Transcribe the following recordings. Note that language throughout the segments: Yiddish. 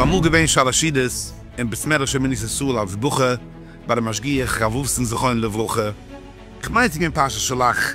אמאל געווען שאלעשידעס אין בית מדרש אמינת ישראל אלס בוכע ביי די משגיח רב וואלפסאן זכרונו לברכה, כ'מיין ס'איז געווען פרשת שלח.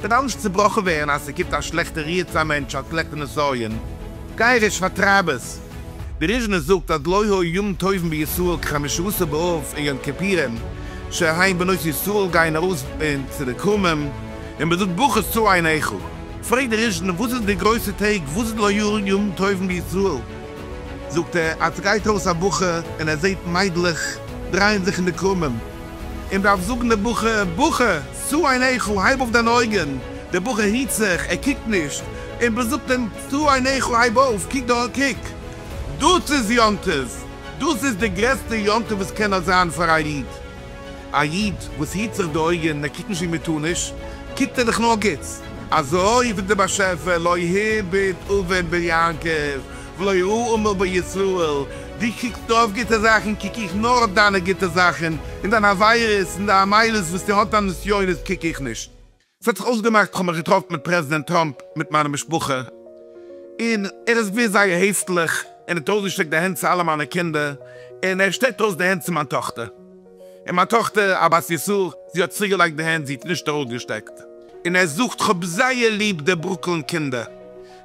וועט אלעס צובראכן ווערן אז ס'קומט א שלעכטע רוח צו א מענטש האט שלעכטע נסיון, גיי רעש פארטרייב עס. די ריזשנער זאגט אז לא היו ימים טובים בישראל כחמשת עשר באב און יום כיפורים שהיין בנות ישראל גייען ארויס צו די כרמים און מ'זאגט ברכות צו עין איכה. פרעגט די ריזשנער וואס איז די גרויסע טעג וואס איז לא היו ימים טובים בישראל? זאגט ער אז ס'גייט ארויס א בחור און ער זעהט מיידלעך דרייען זיך אין די כרמים און דארף זאגן די בחור בחור! צו אין היכל, הייב אויף דיינע אויגן, דער בחור היט זיך, ער קוקט נישט, און מען זאגט אים, צו אין היכל, הייב אויף, קוק דא, קוק, דאס איז יום טוב, דאס איז די גרעסטע יום טוב וואס קען נאר זיין פאר א איד, א איד וואס היט זיך די אויגן און ער קוקט נישט ווי מען טאר נישט, קוקט ער זיך נאר גוטס, אזוי רופט דער באשעפער, לא הביט אבן בן יעקב, ולא יראה אומה בישראל, דו קוקסט אויף גוטע זאכן, קוק איך נאר אויף דיינע גוטע זאכן, און דיין עבירות און דיין מעלות וואס דו האסט דיין נסיונות קוק איך נישט. ס'האט זיך אויסגעמאכט כ'האב מיך געטראפן מיט פרעזידענט טראמפ מיט מיינע משפחה, און ער איז געווען זייער העפליך, און האט אויסגעשטרעקט די הענט צו אלע מיינע קינדער, און ער שטרעקט אויס די הענט צו מיין טאכטער. און מיין טאכטער א בת יסור, זי האט צוריקגעלייגט די הענט, זי האט נישט ארויסגעשטעקט, און ער זאגט, כ'האב זייער ליב די ברוקלין קינדער,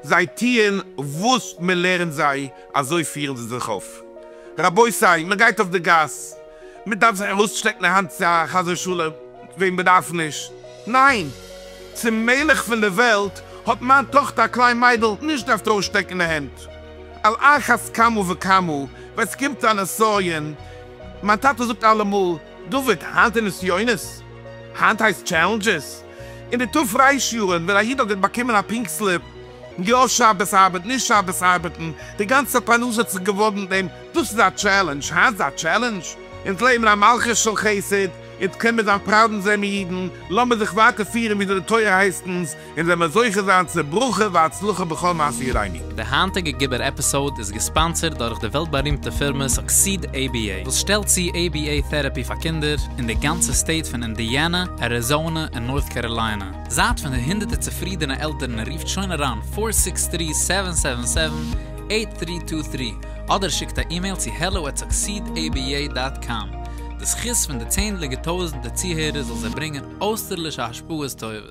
זיי טוען וואס מען לערנט זיי, אזוי פירן זיי זיך אויף. רבותי, מען גייט אויף די גאס, מען דארף זיך ארויסשטעקן די האנט צו א חזיר שאלה וועם מען דארף נישט? ניין! צום מלך פון די וועלט האט מיין טאכטער א קליין מיידל נישט געדארפט ארויסשטעקן די הענט, על אחת כמה וכמה ווען ס'קומט צו א נסיון, מיין טאטע זאגט אלעמאל, דוד, היינט איז נסיונות, היינט הייסט טשעלענדזשעס. אין די תפ' רייש יארן ווען א איד האט געט באקומען א פינק סליפ, יא שבת ארבעט, נישט שבת ארבעטן, די גאנצע פרנסה האט זיך געוואגט מיט דעם, דאס איז א טשעלענדזש, היינט איז א טשעלענדזש. אונז לעבן אין א מלכות של חסד, אונז קען מיר זיין פראוד אונז זעמיר אידן, לאמיר זיך ווייטער פירן וויאזוי די תורה הייסט אונז, אונז וועל מיר זוכה זיין צו ברכה והצלחה בכל מעשי ידינו. די היינטיגע גיבור עפיסאוד איז געספאנסערד דורך די וועלט בארימטע פירמע סוקסיד עי בי עי וואס שטעלט צו עי בי עי טעראפי פאר קינדער אין די גאנצע סטעיט פון אינדיאנע, אריזאנע און נארט קעראליינע. זייט פון די הונדערטער צופרידענע עלטערן און רופט שוין אריין פֿיר זיבן דרײַ סעווען סעווען סעווען אַכט דרײַ צוויי דרײַ אדער שיקט א אימעיל צו העלא עט סוקסיד עי בי עי דאט קאם. די זכות פון די צענדליגע טויזענטער צוהערער זאל זיי ברענגען אויסטערלישע השפעות טובות.